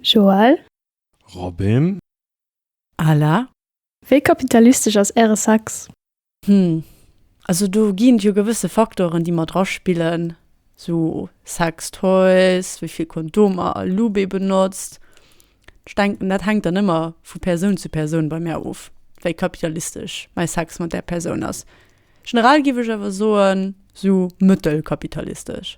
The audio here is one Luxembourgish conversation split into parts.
Joël. Robin. Ala. Wéi kapitalistesch ass Äre Sex? Hm, also do ginn et jo gewësse Faktoren, déi mat draspillen, sou Sex Toys, wéi vill Kondomer a Lube ee benotzt. Ech denken, dat hänkt dann ëmmer vu Persoun zu Persoun bei mär of, wéi kapitalistesch mäi Sex mat där Persoun ass. Generell géif ech awer soen, sou mëttelkapitalistesch.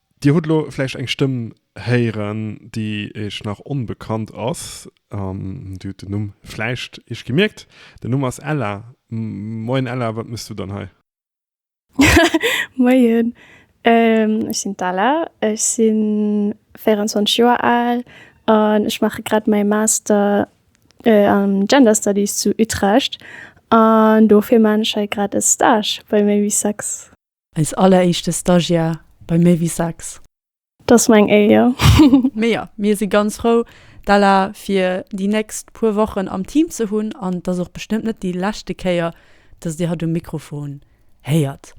Dir hutt elo vläicht eng Stëmm héieren, déi Iech nach onbekannt ass. Dir hutt den Numm vläicht Iech gemierkt. Den Numm ass Ella. Moien Ella, wat méchs du dann hei? Moien, ech sinn d'Ella. Ech si 24 Joer al an ech maache grad mäi Master am Gender Studies zu Utrecht. An dofir man ech hei grad e Stage bei Maybe Sex. Eis alleréischte Stagiaire bei méi wéi 6. Dass meng Éier! Mee jo, mir si ganz frou, d'Ella fir déi nächst puer Wochen am Team ze hunn an et ass och bestëmmt net déi leschte Kéier, dass Dir hatt um Mikrofon héiert.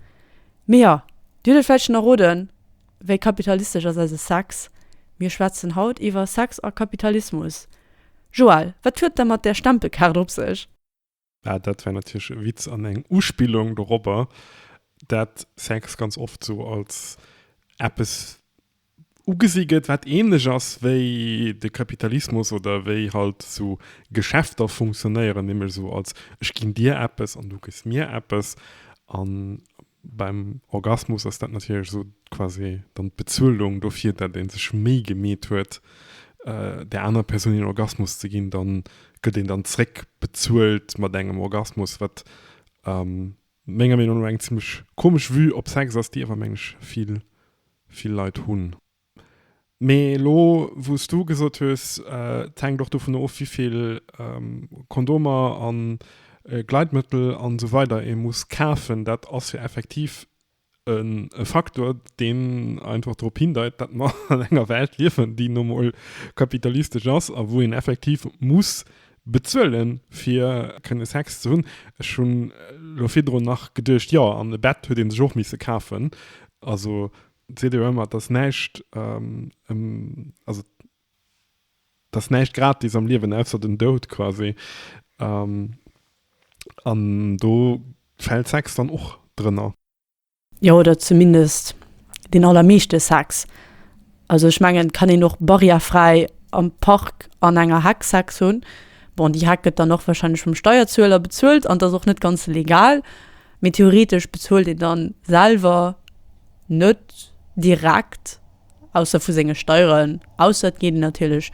Mee jo, Dir hutt et vläicht schon erroden, Wéi kapitalistesch ass eise Sex? Mir schwätzen haut iwwer Sex a Kapitalismus. Joelle, wat huet et da mat där Stempelkaart op sech? Ah, dat war natierlech e Witz an eng Uspillung dorobber, dat Sex ganz oft sou als eppes ugesi gëtt, wat ähnlech ass wéi de Kapitalismus oder wéi halt sou Geschäfter funktionéieren, nämlech sou als, Ech ginn dir eppes an du gëss mir eppes. An Beim Orgasmus ass dat natierlech esou quasi dann d'Bezuelung dofir, dat ee sech Méi gemeet huet, där anerer Persoun een Orgasmus ze ginn. Da gëtt een dann zréck bezuelt mat engem Orgasmus, wat menger Meenung no eng zimmlech komesch Vue op Sex ass, déi awer, meng ech, vill Leit hunn. Mee elo wou s du gesot hues, et hänkt och dovun of, wéi vill Kondomer a Gleitmëttel a sou weider ee muss kafen, dat ass jo effektiv e Faktor, deen einfach drop hindeit, datt mer an enger Welt liewen, déi nu mol kapitalistesch ass a wou een effektiv muss bezuele fir kënne Sex ze hunn. Ech hunn elo virdrun nach geduecht, jo, an e Bett huet ee sech och misse kafen. Also seet jo ëmmer, dass näischt, also dass näischt gratis am Liewen, ausser den Doud quasi. An do fält Sex dann och drënner. Jo, oder zumindest deen allermeeschte Sex. Also ech mengen, et kann een och barrièrefräi am Park an enger Heck Sex hunn. Bon, déi Heck gëtt dann och warscheinlech vum Steierzueler bezuelt an 't ass och net ganz legal. Mee theoretesch bezuelt een dann selwer net direkt, ausser vu senge Steieren, ausser et geet een natierlech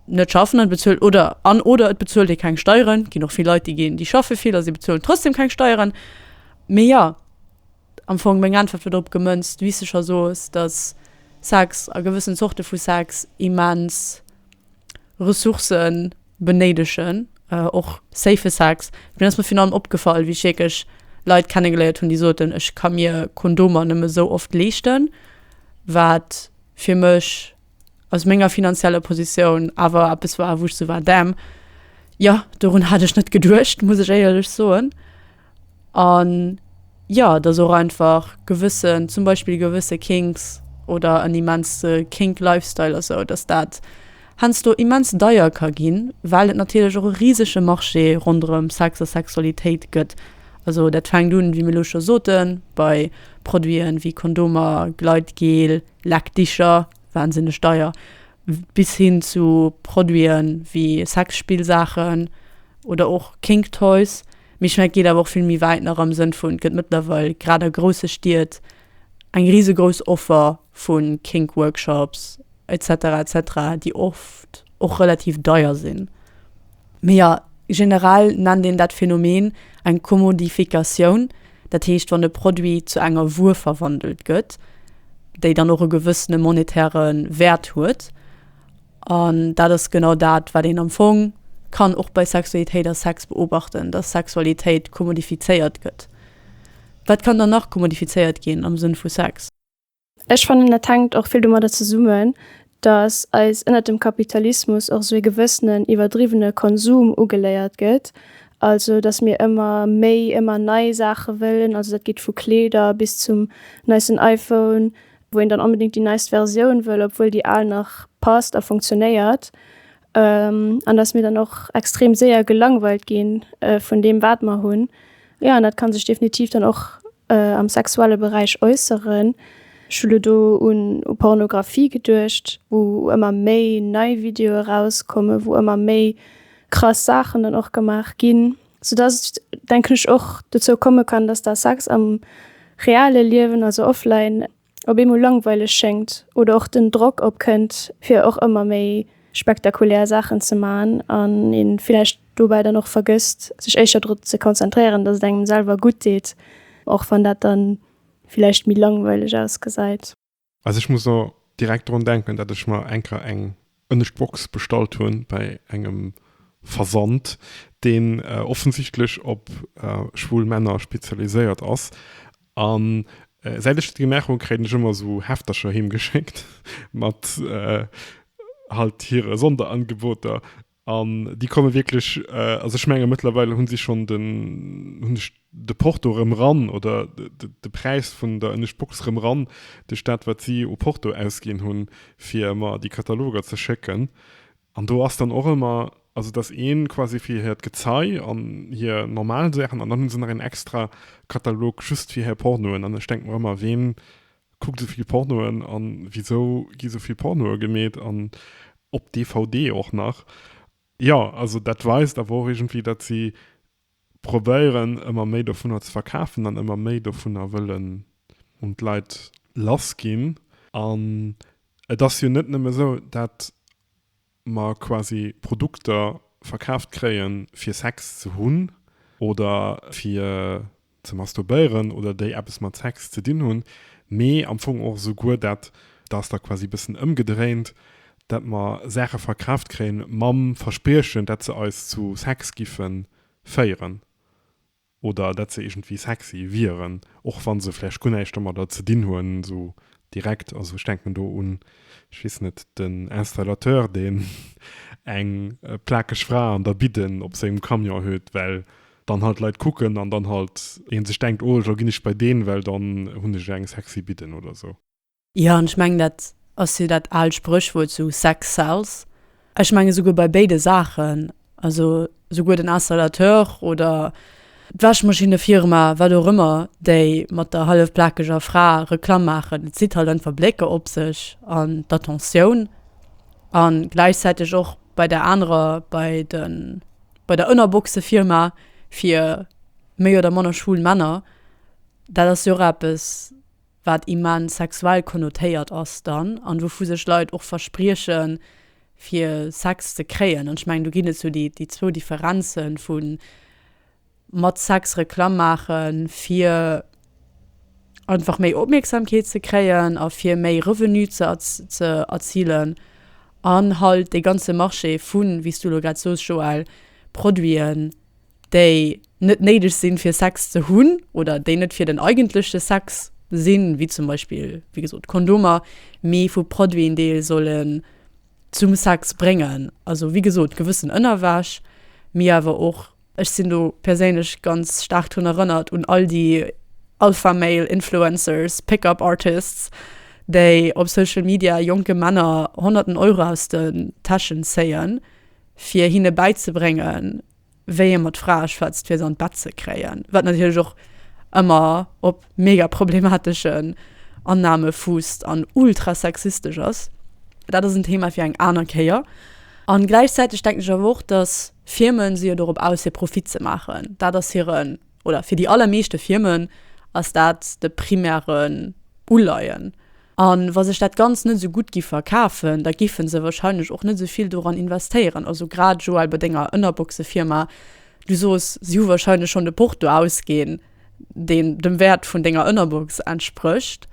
net schaffen an et bezuelt oder an oder et bezuelt ee keng Steieren. Et ginn och vill Leit, déi ginn, déi schaffe vill a si bezuelen trotzdem keng Steieren. Mee jo, am Fong meng Äntwert wier drop gemënzt, wéi s de scho soos, datt Sex a gewëssen Zorte vu Sex immens Ressourcen benéidegen och safe Sex. Mee ass mer virun allem opgefall, wéi ech wierklech Leit kennegeléiert hunn, déi soten, ech ka mir Kondomer nëmme sou oft leeschten, wat fir mech aus menger finanzieller Positioun awer eppes war, wou ech sou war, damn, jo, dorun hat ech net geduecht, muss ech éierlech soen. An jo, dass och einfach gewëssen, zum Beispill gewësse Kinks oder en immense Kink Lifestyle a sou, dass dat heiansdo immens deier ka ginn, well et natierlech och e risege Marché ronderëm Sex a Sexualitéit gëtt. Also dat fänkt un, wéi mir elo scho soten, bei Produiten ewéi Kondomer, Gleitgel, Leckdicher, wahnsinneg deier, bis hin zu Produite wéi Sexspillsaachen oder och Kink Toys. Mee ech mengen, et geet awer och vill méi wäit nach am Sënn vun, et gëtt mëttlerweil grad a grousse Stied eng risegrouss Offer vu Kink Workshops et cetera et cetera, déi oft och relativ deier sinn. Mee jo, generell nennt een dat Phänomen eng Commodifikatioun, dat heescht wann e Produit zu enger Wuer verwandelt gëtt, déi dann och e gewëssene monetäre Wäert huet. An dat ass genau dat, wat een am Fong kann och bei Sexualitéit a Sex beobachten, dass Sexualitéit commodifizéiert gëtt. Wat kann dann nach commodifizéiert ginn am Sënn vu Sex? Ech fannen dat hänkt och vill domadder zesummen, datt eis ënnert dem Kapitalismus och esou ee gewëssenen iwwerdriwwene Konsum ugeléiert gëtt, also datt mir ëmmer méi, ëmmer nei Saache wëllen, also dat geet vu Kleeder bis zum neisten Iphone, wou een dann onbedéngt déi neist Versioun wëll, obwuel déi al nach passt a funktionéiert. An dass mir dann och extrem séier gelangweilt gi vun deem, wat mer hunn. Jo, an dat ka sech definitiv dann och am sexuelle Beräich äusseren. Ech hu lo do un Pornografie geduecht, wou ëmmer méi nei Videoe erauskommen, wou ëmmer méi krass Saachen dann och gemaach ginn. Soudass et, denken ech, och dozou komme kann, dass da Sex am reale Liewen, also offline, op eemol langweileg schéngt oder och den Drock opkënnt, fir och ëmmer méi spektakulär Saachen ze maachen an ee villäicht dobäi dann och vergësst, sech éischter dru ze konzentréieren, datt et engem selwer gutt deet, och wann dat dann villäicht méi langweileg ausgesäit. Also ech muss elo direkt drun denken, datt ech mer enker eng en ech d'Box bestallt hunn bäi engem Versand, deen offensichtlech op schwul Männer spezialiséiert ass. An säit ech dat gemaach hunn, kréien ech ëmmer esou Heftercher heem geschéckt mat halt hire Sonderangeboter. An déi komme wierklech, also ech menge mëttlerweil hu si schonn den, hunn ech de Porto erëm ran oder de Präis vun der Ënnescht Box erëm ran duerch dat wat si u Porto ausginn hunn fir mer déi Kataloger ze schécken. An do ass dann och ëmmer, also dass ee quasi fir hiert Gezei an hir normal Saachen an dann hu se nach een extra Katalog just fir hir Pornoen an ech denke mer ëmmer, ween kuckt esou vill Pornoen an wisou gi esou vill Pornoe gemeet an op DVD och nach. Jo, also dat weist awer och iergendwéi, datt si probéieren ëmmer méi dovunner ze verkafen an ëmmer méi dovunner wëllen un d'Leit lass ginn. An et ass jo net nëmme sou, dat mer quasi Produkter verkaaft kréien fir Sex ze hunn oder fir ze masturbéieren oder déi eppes mat Sex ze dinn hunn, mee am Fong och souguer dat, dat ass da quasi e bëssen ëmgedréint, dat mer Saache verkaaft kréie mam Verspriechen, dat se eis zu Sex giffe féieren oder dat se iergendwéi sexy wieren, och wa se vläicht guer näischt domadder ze dinn hunn, esou direkt. Also ech denken do un, ech weess net, den Installateur, deen eng plakeg Fra an der Bidden op sengem Camion huet, well dann halt Leit kucken an dann halt een sech denkt oh lo ginn ech bei deen well dann hunn ech eng sexy Bidden oder esou. Jo an ech mengen dat ass jo dat aalt Sprëchwuert sou Sex sells. Ech mengen souguer bei béide Saachen, also souguer den Installateur oder d'Wäschmaschinne-Firma, wat och ëmmer, déi mat der hallefplakeger Fra Reklamm maachen, et zitt halt einfach Blécker op sech an d'Attentioun an gläichzäiteg och bei der anerer, bei de. Bei der Ënnerboxefirma fir méi oder manner schwul Männer, dat ass jo och eppes, wat immens sexuell konnotéiert ass dann an wouvu sech Leit och verspriechen, fir Sex ze kréien. An ech mengen, do ginn et sou déi zwou Differenzen, vu mat Sex Reklamm maachen, fir einfach méi Opmierksamkeet ze kréien a fir méi Revenu ze erzilen. an halt dee ganze Marché vu, wéi s du elo grad soos, Joël, Produiten, déi net néideg sinn, fir Sex ze hunn oder déi net fir den eigentleche Sex sinn, wéi zum Beispill, wéi gesot, Kondomer, mee vu Produiten, déi ee sollen zum Sex bréngen. Also wéi gesot, gewëssen Ënnerwäsch, mee awer och. Ech sinn do perséinlech ganz staark drun erënnert un all déi Alpha Male Influencers, Pick Up Artists, déi op Social Media jonke Männer honnerten Euro aus den Täschen zéien, fir hinne bäizebréngen, wéi ee mat Frae schwätzt, fir se an d'Bett ze kréien, wat natierlech och ëmmer op. mega problemateschen Annahme fußt an ultra sexistesch ass. Dat ass en Thema fir eng aner Kéier. An gläichzäiteg denken ech awer och, dass Firmen si jo dorop aus fir Profit ze maachen. Dat ass hiren, oder fir déi allermeeschte Firmen ass dat de primären Uleien. An wa sech dat Ganzt net esou gutt giff verkafen, da giffen se wahrscheinlech och net esou vill doran investéieren. Also grad Joël, bei denger Ënnerboxefirma, du soos, si hu wahrscheinlech schonn de Porto ausginn. deen dem Wäert vun denger Ënnerbox entsprécht,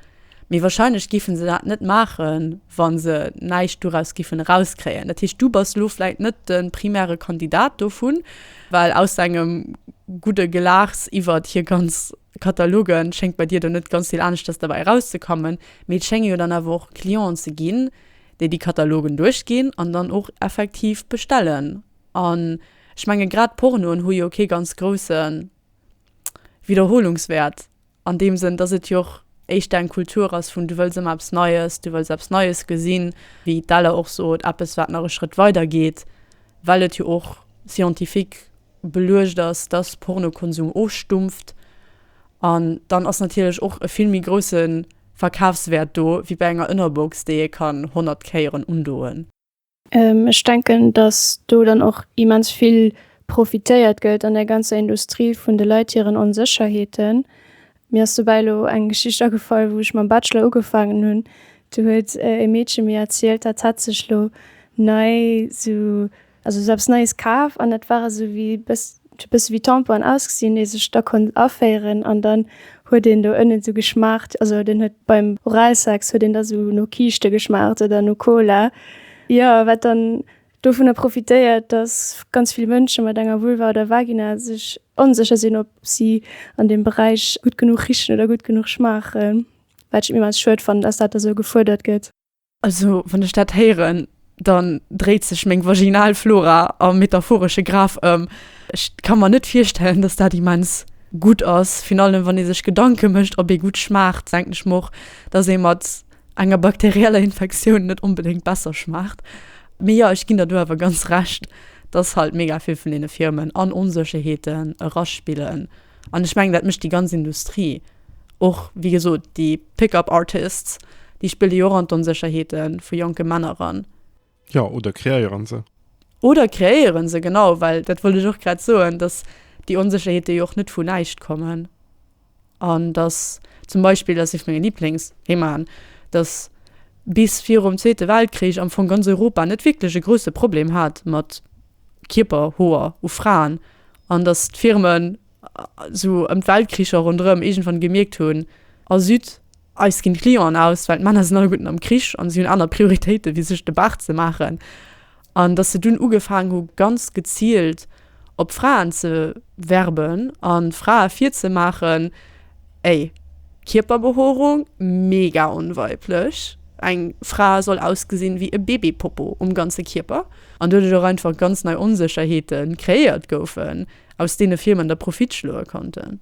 mee wahrscheinlech géifen se dat net maachen, wa se näischt doraus géifen erauskréien. Dat heescht, du bass elo vläicht net de primäre Kandidat dovun, well aus dengem gudde Gelaachs iwwert hir ganz Kataloge schéngt bei dir do net ganz vill aneschters derbäi erauszekommen. Mee et schénge jo dann awer och Clienten ze ginn, déi déi Katalogen duerchginn an dann och effektiv bestellen. An ech menge grad Pornoen hu jo kee ganz groussen widderholungswäert an deem Sënn, dass et jo och éischter eng Kultur ass vun du wëlls ëmmer eppes Neies, du wëlls eppes Neies gesinn, wéi d'Ella och sot, eppes, wat nach e Schrëtt weider geet, well et jo och scientifique beluecht ass, dass Pornokonsum ofstumpft. An dann ass natierlech och e vill méi grousse Verkafswäert do wéi bei enger Ënnerbox, déi ee kann honnert Kéieren undoen. Ech denken, datt do dann och immens vill profitéiert gëtt an der ganzer Industrie vun de Leit hiren Onsécherheeten. Mir ass dobäi elo eng Geschicht agefall, wou ech mam Bachelor ugefaangen hunn. Do huet e Meedche mir erzielt, dat hat sech elo nei esou, also esou eppes Neies kaf an dat war esou wéi e bëss, Huet e bësse wéi Tampon ausgesinn, ee sech da konnt aféieren an dann huet een do ënnen esou geschmaacht, also den huet beim Oralsex huet een da sou no Kiischte geschmaacht oder no Cola. Jo, wat dann dovunner profitéiert, datt ganz vill Mënsche mat enger Vulva oder Vagina sech onsécher sinn, ob si an deem Beräich gutt genuch richen oder gutt genuch schmaachen. Wat ech immens schued fannen, datt dat da sou gefuerdert gëtt. Also wann ech dat héieren, dann dréit sech meng vaginal Flora am metaphoresche Graf ëm. Ech ka mer net virstellen, dass dat immens gutt ass, virun allem wann ee sech Gedanke mécht, ob ee gutt schmaacht, denken ech mer och, dass ee mat enger bakterieller Infektioun net onbedéngt besser schmaacht. Mee jo, ech ginn der do awer ganz Recht, dass halt mega vill vun deene Firmen an Onsécherheeten eraspillen. An ech mengen, dat mécht déi ganz Industrie. Och, wéi gesot, déi Pick-up artists, déi spille jo och an d'Onsécherheete vu jonke Männer eran. Jo, oder kreéieren se. Oder kreéieren se, genau. Well dat wollt ech och grad soen, dass déi Onsécherheete jo och net vu näischt kommen. An dass zum Beispill, dat ass ee vu menge Liblingsthemaen, dass bis virum Zweete Weltkrich am Fong ganz Europa net wierklech e grousse Problem hat mat Kierper, Hoer u Fraen, an datt d'Firmen esou ëm d'Weltkricher ronderëm iergendwann gemierkt hunn, Ah züt, eis ginn d'Clienten aus, well d'Männer sinn alleguerten am Krich an si hunn aner Prioritéiten, wéi sech de Bart ze maachen. An datt se dunn ugefaangen hu ganz geziilt op Fraen ze werben a Frae virzemaachen, Ey, Kierperbehoorung mega onweiblech, eng Fra soll ausgesin wéi e Bébépopo um ganze Kierper, an doduerch och einfach ganz nei Onsécherheeten kreéiert goufen, aus deene Firmen da Profit schloe konnten.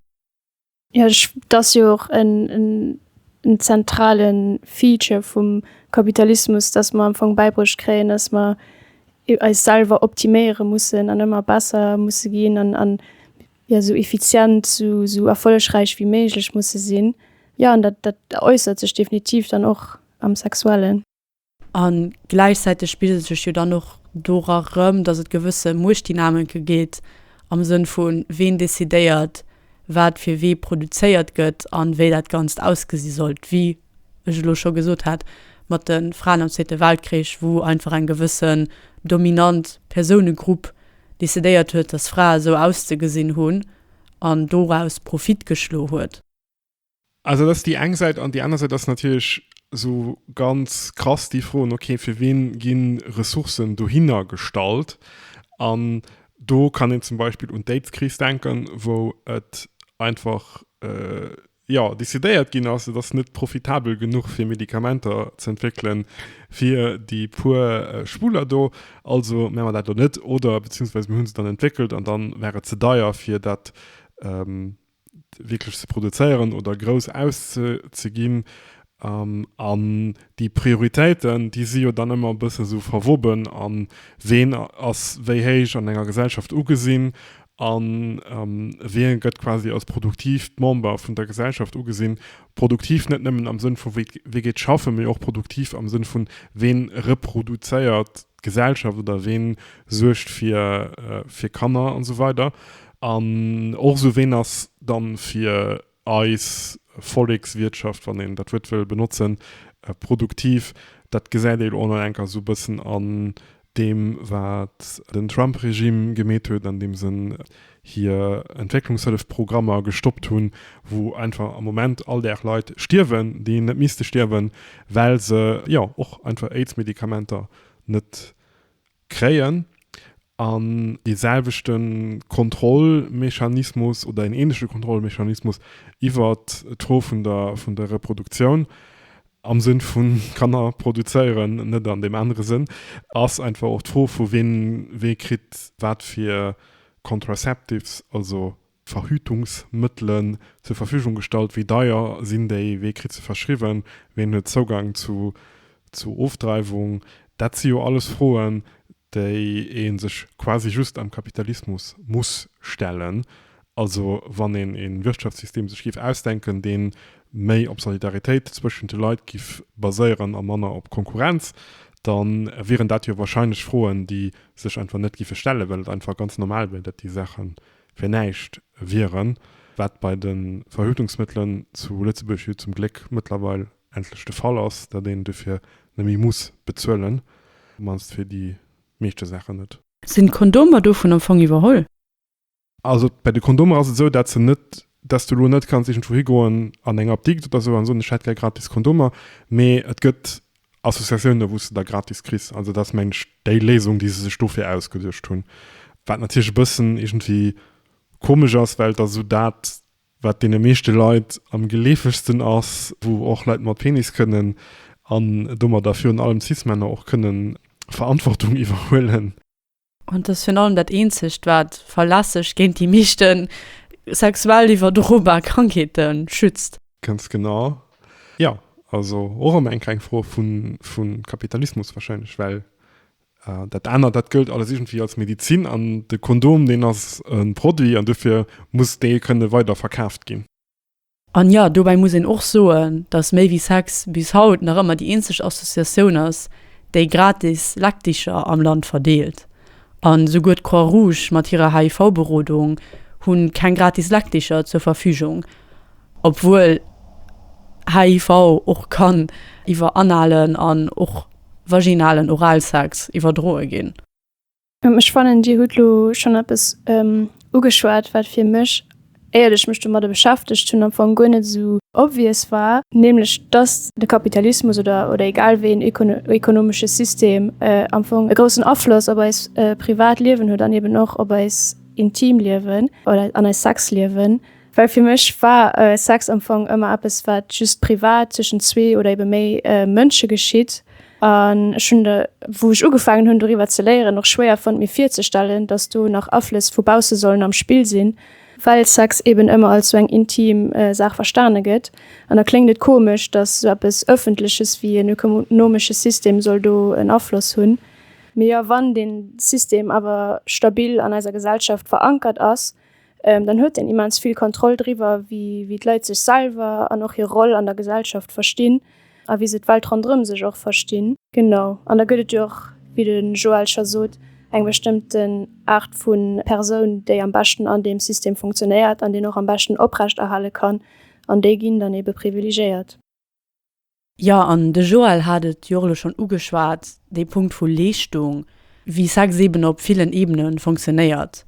Jo, et ass jo och en zentrale Feature vum Kapitalismus, dass mer am Fong bäibruecht kréien, dass mer eis selwer optiméiere mussen an ëmmer besser musse ginn an jo esou effizient, esou erfollegräich wéi méiglech musse sinn, jo an dat dat äussert sech definitiv dann och am Sexuellen. A gläichzäiteg spigelt sech jo dann och dora rëm, datt et gewësse Muechtdynamike gétt am Sënn vu ween decidéiert wat fir wee produzéiert gëtt an wéi dat Ganzt ausgesi sollt, wie ech elo scho gesot hat, mat de Fraen am Zweete Weltkrich, wou einfach eng gewëssen dominant Persounegrupp decidéiert huet, dass Frae sou auszegesinn hunn an doraus Profit geschlo huet. Also dat ass déi eng Säit. An déi aner Säit ass natierlech esou ganz krass déi Froen, okay, fir wien gi Ressourcen dohinner gestallt? An do kann een zum Beispill un d'Aidskris denken, wou et einfach Jo, decidéiert ginn ass, et ass net profitabel genuch fir Medikamenter ze entwéckelen fir déi puer Schwuler do, also mä mer dat elo net, oder beziehungsweise mir hunn se dann entwéckelt an dann war et ze deier fir dat wierklech ze produzéieren oder grouss auszeginn. An déi Prioritéiten, déi si jo dann ëmmer e bësse sou verwoben a ween ass wéi héich an enger Gesellschaft ugesinn a wien gëtt quasi als produktiivt Member vun der Gesellschaft ugesinn. Produktiv net nëmmen am Sënn vu wee geet schaffen, mee och produktiv am Sënn vun, ween reproduzéiert d'Gesellschaft oder ween suergt fir Kanner an esou weider. An och esou, ween ass dann fir eis Vollekswirtschaft, wann een dat Wuert wëll benotzen, produktiv, dat gesäit ee lo an enker esou e bëssen an deem, wat den Trump-Regime gemeet huet, andeem se hir Entwécklungshëllefprogrammer gestoppt hunn, wou einfach am Moment all Dag Leit stierwen, déi net misste stierwen, well se, jo, och einfach Aids-Medikamenter net kréien an dee selwechte Kontrollmechanismus oder en ähnleche Kontrollmechanismus iwwer d'Fro vun der vun der Reproduktioun am Sënn vu Kanner produzéieren, net an deem anere Sënn, ass einfach och d'Fro vu ween, wee kritt wat fir Contraceptives, also Verhütungsmëttelen zur Verfügung gestallt? Wéi deier sinn déi? Wee kritt se verschriwwen? Ween huet Zougang zu zu Ofdreiwung? Dat si jo alles Froen, déi ee sech quasi just am Kapitalismus muss stellen. Also wann een ee Wirtschaftssystem sech géif ausdenken, dee méi op Solidaritéit zwëschent de Leit géif baséieren a manner op Konkurrenz, da wieren dat jo warscheinlech Froen, déi sech einfach net géife stellen, well et einfach ganz normal wier, datt déi Saachen fir näischt wieren, wat bei de Verhütungsmëttelen zu Lëtzebuerg jo zum Gléck mëttlerweil endlech de Fall ass, datt een dofir neméi muss bezuelen, mannst fir déi meeschte Saachen net. Sinn d'Kondomer dovun am Fong iwwerholl? Also bei de Kondomer ass et esou, datt se net, datt s du elo net kanns iergendwou higoen an eng Apdikt oder esou an soen, ech hätt gär gratis Kondomer, mee et gëtt Associatiounen, wou s de da gratis kriss. Also dat ass, mengen ech, déi Léisung, déi se sech dofir ausgeduecht hunn. Wat natierlech e bëssen iergendwéi komesch ass, well et ass esou dat, wat deene meeschte Leit am geleefegsten ass, wou och Leit mat Penis kënnen, an domadder virun allem cis-Männer, och kënnen Verantwortung iwwerhuelen. An t'ass virun allem dat eenzegt wat verlässeg géint déi meeschten sexuell iwwerdrobar Krankheeten schützt. Ganz genau. Jo, also och emmer eng kleng Fro vu Kapitalismus wahrscheinlech, well dat anert, dat gëllt alles iergendwéi als Medizin an de Kondom, deen ass e Produit an dofir muss dee kënne weider verkaaft ginn. An jo, dobäi muss een och soen, dass Méi wéi Sex bis haut nach ëmmer déi eenzeg Associatioun ass, déi gratis Leckdicher am Land verdeelt. An esouguer d'Croix Rouge mat hirer HIV-Berodung hu keng gratis Leckdicher zur Verfügung, obwuel HIV och kann iwwer analen an och vaginalen Oralsex iwwerdroe ginn. Ech fannen Dir hutt lo schonn eppes ugeschwat, wat fir mech, éiert ech mech domadder beschäftegt hunn, am Fong guer net esou obvious war, nämlech datt de Kapitalismus oder oder egal wéi een ekonomesche System am Fong e groussen Afloss op eist privat Liewen huet an eben och op eist intimt Liewen oder an eist Sexliewen. Well fir mech war Sex am Fong ëmmer eppes, wat just privat tëschent zwee oder ebe méi Mënsche geschitt An ech hunn, wou ech ugefaangen hunn doriwwer ze léieren, och schwéier fonnt mir virzestellen, datt do nach Aflëss vu bausse sollen am Spill sinn, well Sex eben ëmmer als sou eng intim Saach verstane gëtt. An da kléngt et komesch, datt sou eppes Ëffentleches wéi en ökonomesche System soll do en Afloss hunn. Mee jo, wann dee System awer stabil an eiser Gesellschaft verankert ass, ähm, dann huet en immens vill Kontroll driwwer, wéi, wéi d'Leit sech selwer an och hir Roll an der Gesellschaft verstinn a wéi se d'Welt ronderëm sech och verstinn. Genau, an da gëtt et jo och, wéi de Joël scho sot, eng bestëmmten Aart vu Persoun, déi am beschten an deem System funktionéiert an deen och am beschten oprechterhale kann, an déi ginn dann eebe privilegéiert. Jo, an de Joël hat et jo och elo schonn ugeschwat, dee Punkt vu Leeschtung, wéi Sex eeben op villen Ebene fonctionnéiert.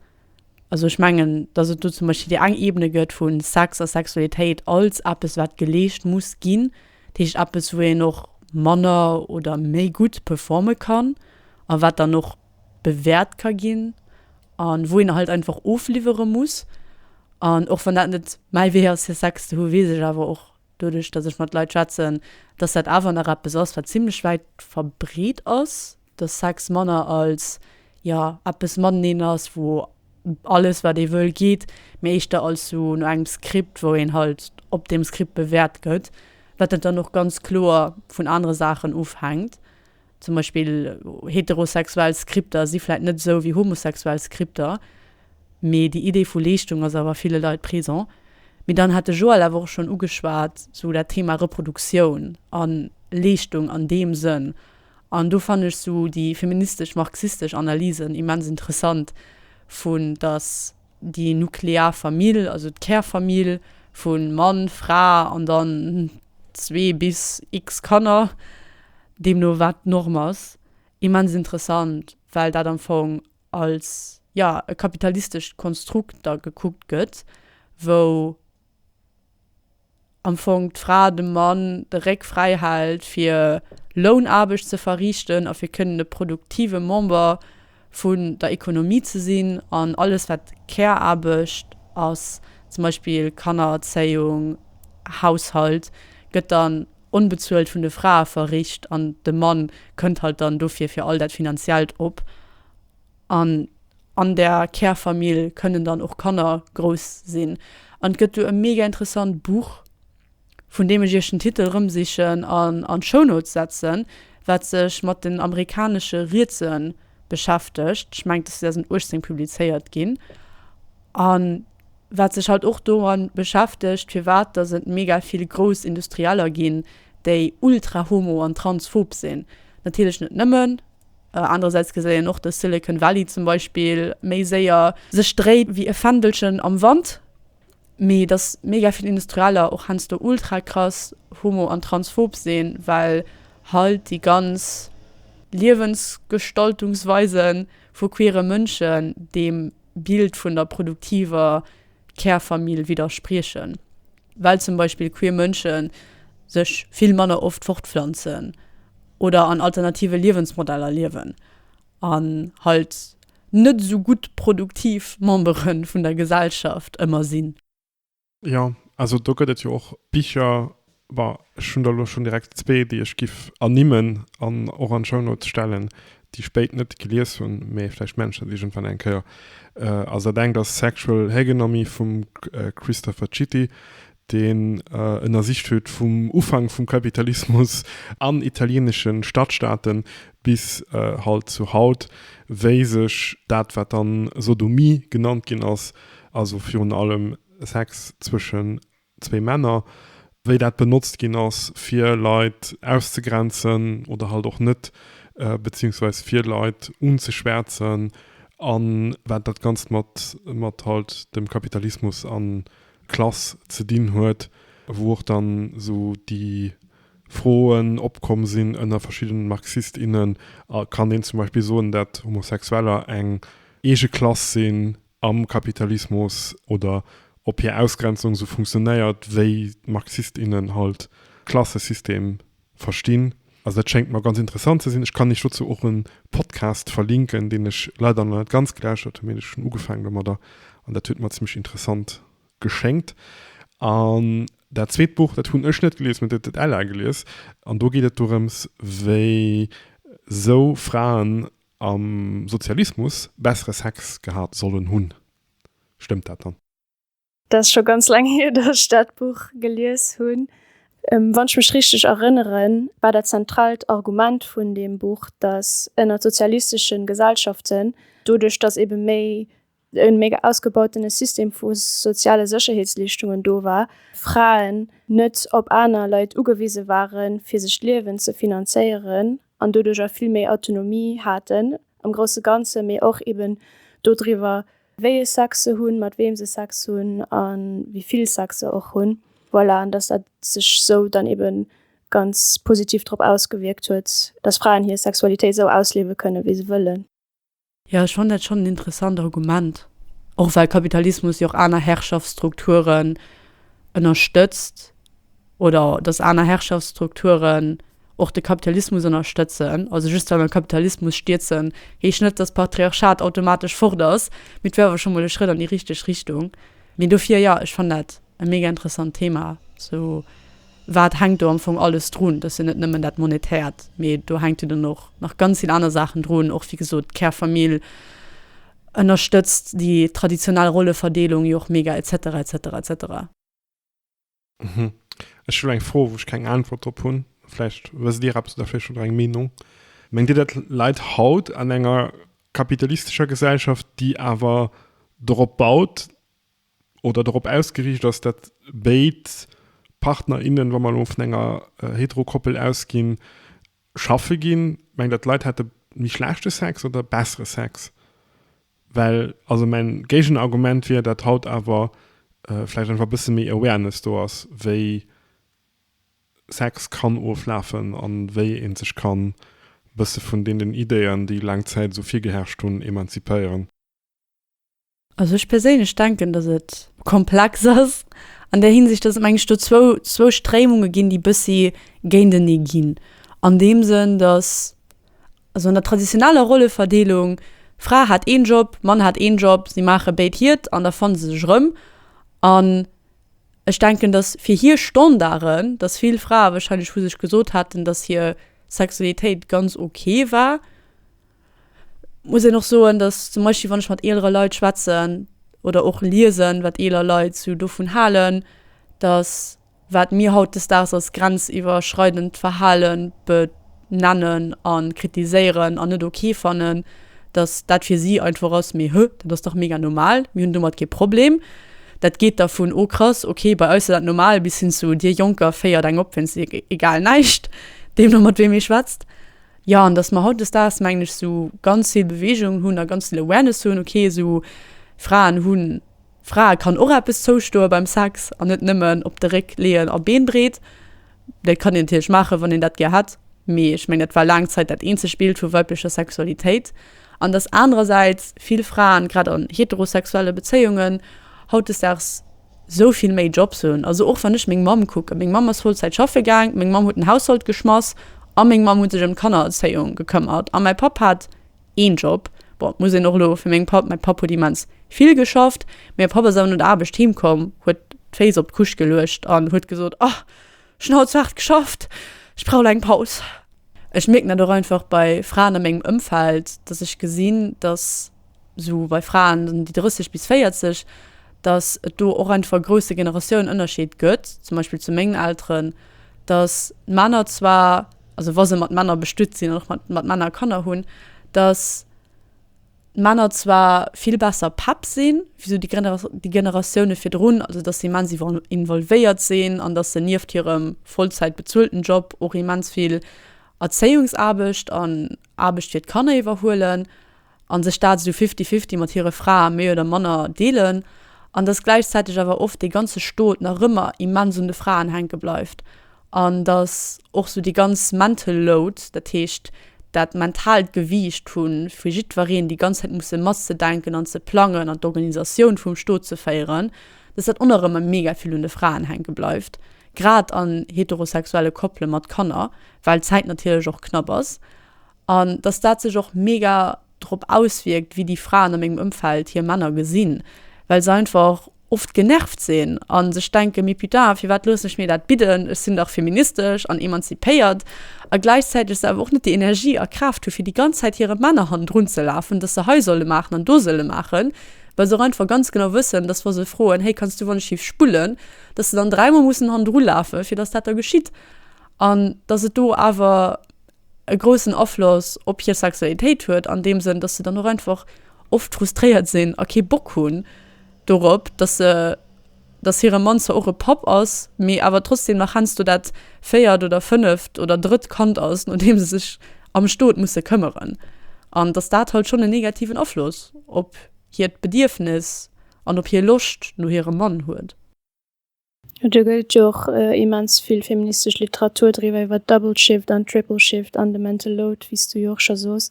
Also ech mengen, datt et do zum Beispill déi eng Ebene gëtt vu Sex a Sexualitéit als eppes, wat geleescht muss ginn, dat heescht eppes, wou een och manner oder méi gutt performe kann a wat dann och bewäert ka ginn a wou een halt einfach ofliwwere muss. An och wann dat net mäi Wee ass, fir Sex ze hu, weess ech awer och, doduerch datt ech mat Leit schwätzen, datt dat awer nach eppes ass wat zimlech wäit verbreet ass, datt Sex manner als, jo, eppes mateneen ass, wou alles wat ee wëll geet, mee éischter als sou no engem Skript, wou een halt op deem Skript bewäert gëtt, wat dann och ganz kloer vun anere Saachen ofhänkt. Zum Beispill heterosexuell Skripter si vläit net esou wéi homosexuell Skripter, mee déi Idee vu Leeschtung ass awer a ville Leit présent. Mee dann hat de Joël awer och schonn ugeschwat, sou dat Thema Reproduktioun a Leeschtung an deem Sënn. An do fannen ech sou déi feministesch-marxistesch Analysen immens interessant, vu datt, déi nuklear Famill, also d'Kärfamill vu Mann, Fra an dann zwee bis x-Kanner, deemno wat d'Norm ass, immens interessant, well dat am Fong als, ja, e kapitalistescht Konstrukt da gekuckt gëtt, wou am Fong d'Fra dem Mann de Réck fräi hält, fir Lounaarbecht ze verriichten a fir kënnen e produktive Member vun der Ekonomie ze sinn. An alles, wat Care-Aarbecht ass, zum Beispill Kannererzéiung, Haushalt, gëtt dann onbezuelt vun de Frae verricht an de Mann kënnt halt dann dofir fir all dat Finanziellt op. An an der Kärfamill kënnen dann och Kanner grouss sinn. An et gëtt do e mega interessant Buch, vun deem ech Iech den Titel erëmsichen an an d'Shownotes setzen, wat sech mat den amerikanesche Rietse beschäftegt, ech mengen, et ass 2018 publizéiert ginn, a wat sech halt och domat beschäftegt, firwat dass et mega vill grouss Industrieller ginn, déi ultra-homo an transphob sinn. Natierlech net nëmmen. Anerersäits gesäit een och, dass Silicon Valley zum Beispill méi séier. Sech dréit wéi e Fändelchen am Wand, mee dass mega vill Industrieller och heiansdo ultra krass homo an transphob sinn, well hei déi ganz Liewensgestaltungsweise vu queere Mënschen deem Bild vun der produktiver Kärfamill widderspriechen. well zum Beispill queer Mënsche sech vill manner oft fortpflanzen oder an alternative Liewensmodeller liewen an halt net esou gutt produktiv Membere vun der Gesellschaft ëmmer sinn. Jo, also do gëtt et jo och Bicher, bon, ech hunn der elo schonn direkt zwee, déi ech giff ernimmen an och an d'Shownotes stellen, déi spéit net gelies hunn, mee vläicht Menschen iergendwann eng Kéier, ass dat engt ass Sexual Hegenommy vum Christopher Citti, deen ënnersicht huet vum Ufank vum Kapitalismus an italienesche Stadtstaaten bis halt zu haut, wéi sech dat wat dann Sodomie genannt ginn ass, also virun allem Sex zwëschen Zwee Männer, wéi dat benotzt ginn ass, fir Leit auszegrenzen oder halt och net, beziehungsweise fir Leit unzeschwärzen, a wat dat Ganzt mat halt dem Kapitalismus a Klass ze dinn huet, wou och dann esou déi Froen opkomm sinn ënner verschiddenen Marxist, innen, Kann een zum Beispill soen, dat Homosexueller eng eege Klass sinn? am Kapitalismus oder ob hir Ausgrenzung sou funktionéiert, wéi d'Marxist, innen halt d'Klassesystem verstinn. Also dat schéngt mer ganz interessant ze sinn. Ech kann iech dozou och e Podcast verlinken, deen ech leider nach net ganz gelauschtert hunn, mee ech hunn ugefang domadder an dat huet mer zimmlech interessant geschéngt. An dat zweet Buch, dat hunn ech net gelies, mee dat huet d'Ella gelies an do geet et dorëms, wéi sou Fraen am Sozialismus bessere Sex gehat sollen hunn. Stëmmt dat dann? Dat ass scho ganz laang hier, datt ech dat Buch gelies hunn. Wann ech mech richteg erënneren, war dat zentraalt Argument vun deem Buch, datt ënnert sozialisteschen Gesellschaften, doduerch datt ebe méi en méi ausgebautene System vu soziale Sécherheetsleeschtungen do war, Fraen net op aner Leit ugewise waren, fir sech d'Liewen ze finanzéieren an doduerjer vill méi Autonomie haten am grousse Ganzen, mee och eben dodriwwer, wéi e Sex se hunn, mat weem se Sex hunn a wéi vill Sex se och hunn. Voilà, an dass dat sech esou dann eben ganz positiv drop ausgewierkt huet, dass Fraen hir Sexualitéit esou ausliewe kënnen, wéi se wëllen. Jo, ech fannen dat schonn en interessant Argument. Och well Kapitalismus jo och aner Herrschaftsstrukturen ënnerstëtzt oder datt aner Herrschaftsstrukturen och de Kapitalismus ënnerstëtzen. Also just well mer Kapitalismus stierzen, heescht net, datt Patriarchat automatesch fort ass, mee et wär awer scho mol e Schrëtt an déi richteg Richtung. Mee dofir, jo, ech fannen dat e mega interessant Thema, sou. Wat hänkt do am Fong alles drun? Dat ass jo net nëmmen dat Monetäert, mee do hänkt jo dann och nach ganz vill aner Saachen drun. Och wéi gesot, d'Kärfamill ënnerstëtzt déi traditionell Rolleverdeelung jo och mega, etc. Etc. Etc. Ech hu eng Fro, wou ech keng Äntwert drop hunn. Vläicht wësst Dir eppes oder vläicht hutt Der eng Meenung. Mengt Dir, dat Leit haut an enger kapitalistescher Gesellschaft, déi awer dorop baut, oder dorop ausgeriicht ass, datt béid Partner, innen, wa mer elo vun enger Hetero-Koppel ausginn, schaffe ginn, mengt Der, d'Leit hätte méi schlechte Sex oder bessere Sex? Well also mäin Géigenargument wier, datt haut awer vläicht einfach e bësse méi Awareness do ass, wéi Sex kann oflafen a wéi ee sech kann e bësse vun deenen Idéeën, déi laang Zäit esou virgeherrscht hunn, emanzipéieren. Also ech perséinlech denken, datt et komplex ass an där Hinsicht, datt et meng ech do zwou, zwou Stréimunge ginn, déi bëssi géintenee ginn. An deem Sënn, datt also an der traditioneller Rolleverdeelung, Fra hat een Job, Mann hat een Job, si maache béid hiert an da fanne se sech erëm. An ech denken, datt fir hir Standarden, datt vill Frae warscheinlech vu sech gesot hätten, datt hir Sexualitéit ganz ok war. muss een och soen, datt zum Beispill wann ech mat eelere Leit schwätzen oder och liesen, wat eeler Leit sou dovun halen, datt wat mir hautdesdaags als grenziwwerschreidend Verhale benennen a kritiséieren an net ok fannen, datt dat fir si einfach ass, mee hö, dat ass dach mega normal, mir hunn domat kee Problem. Dat geet da vun oh krass, ok, bei eis ass dat normal bis hin zu dir Jonker féiert eng op, wéinst iech egal näischt, deemno mat weem ee schwätzt. Jo, an dass mer hautdesdaags, mengen ech, esou ganz vill Beweegung hunn a ganz vill Awareness hunn, ok, esou Fraen hunn, Frae kann och eppes zoustoe beim Sex an net nëmmen op de Réck leeën a Beenbreet. Dat kann een natierlech maachen, wann een dat gär hätt, mee ech mengen, dat war laang Zäit dat eenzeg Bild vu weiblecher Sexualitéit. An dass anerersäits vill Fraen, grad an heterosexuelle Bezéiungen, hautdesdaags Sou vill méi Jobs hunn, also och wann ech meng Mamm kucken, meng Mamm ass Vollzäit schaffe gaang, meng Mamm huet den Haushalt geschmass a meng Mamm huet sech ëm d'Kannererzéiung gekëmmert a mäi Papp hat een Job. Bon, et muss een och elo fir meng Papp, mäi Papp huet immens vill geschafft, mä e Papp ass awer no der Aarbecht heem komm, huet d'Féiss op d'Couche geluecht an huet gesot, Oh, ech hunn haut sou haart geschafft, ech brauch lo eng Paus. Ech mierken dat och einfach bei Fraen a mengem Ëmfeld, dass ech gesinn, dass. esou bei Fraen ëm déi 30 bis 40, datt et do och einfach e grousse Generatiounen-Ënnerscheed gëtt, zum Beispill zu mengen Elteren, datt d'Männer zwar, also wa se mat Männer bestutt sinn an och mat mat Männer Kanner hunn, datt d'Männer zwar vill besser Päpp sinn wéi esou déi Genera déi Generatioune virdrun, also datt se immens iwwol involvéiert sinn an datt se nieft hirem Vollzäit bezuelten Job och immens vill Erzéiungsaarbecht an Aarbecht fir d'Kanner iwwerhuelen. an sech dat esou fifty-fifty mat hire Frae méi oder manner deelen, an dass gläichzäiteg awer oft dee ganze Stot nach ëmmer immens un de Fraen hänke bleift, an dass och esou déi ganz mental load, dat heescht dat mentaalt Gewiicht vu fir jiddwereen déi ganz Zäit musse matzedenken an ze plangen an d'Organisatioun vum Stot ze féieren, dass dat och nach ëmmer mega vill un de Fraen hänke bleift, grad an heterosexuelle Koppele mat Kanner, well d'Zäit natierlech och knapp ass. An dass dat sech och mega drop auswierkt, wéi déi Fraen a mengem Ëmfeld hir Männer gesinn, well se einfach oft genervt sinn a sech denken, mee putain, firwat loossen ech mir dat bidden, ech sinn dach feministesch an emanzipéiert, a gläichzäiteg se awer och net déi Energie a Kraaft hu fir déi ganz Zäit hire Männer hannendrun ze lafen, dass se hei solle maachen an do solle maachen, well se och einfach ganz genau wëssen, dass wa se froen, hey, kanns du wann ech schief spullen, dass se dann dräimol mussen hannendru lafen, fir dass dat da geschitt an dass et do awer. e groussen Afloss op hir Sexualitéit huet, an deem Sënn, dass se dann och einfach oft frustréiert sinn a kee Bock hunn dorop, dass se, dass hire Mann zwar och e Papp ass, mee awer trotzdem nach heiansdo dat véiert oder fënneft oder drëtt Kand ass, no deem se sech am Stot musse këmmeren. An dass dat halt schonn en negativen Afloss op hiert Bedierfnis an op hir Loscht no hirem Mann huet. Jo do gëtt jo och immens vill feministesch Literatur driwwer, iwwer d'Double Shift an d'Triple Shift an de Mental Load wéi s du jo och scho soos.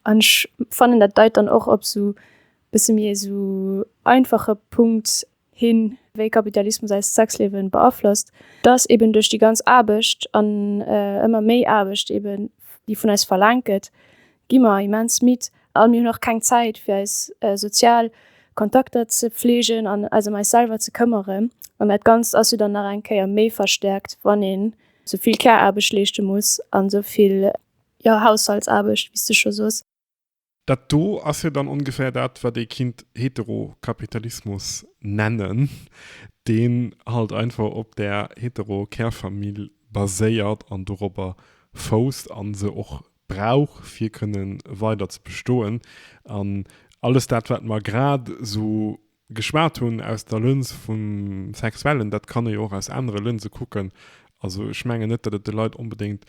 An ech fannen dat deit dann och op sou bësse méi esou einfache Punkt hin wéi Kapitalismus eist Sexliewen beaflosst, dass eben duerch déi ganz Aarbecht an ëmmer méi Aarbecht eben déi vun eis verlaangt gëtt gi mer immens midd a mir hunn och keng Zäit fir eis sozial Kontakter ze pfleegen an eis ëm eis selwer ze këmmeren. An dat Ganzt ass jo dann nach eng Kéier méi verstäerkt, wann een esou vill Care-Aarbecht leeschte muss an esou vill Haushaltsaarbecht, wéi s de scho sos. Dat do ass jo dann ongeféier dat, wat ee kinnt Heterokapitalismus nennen, deen halt einfach op där Hetero-Kärfamill baséiert an dorobber fousst an se och brauch fir kënnen weider ze bestoen an alles dat wat mer grad sou geschwat hunn aus der Lëns vum Sexuellen, dat kann ee jo och aus anere Lënse kucken. Also ech mengen net dat et de Leit onbedéngt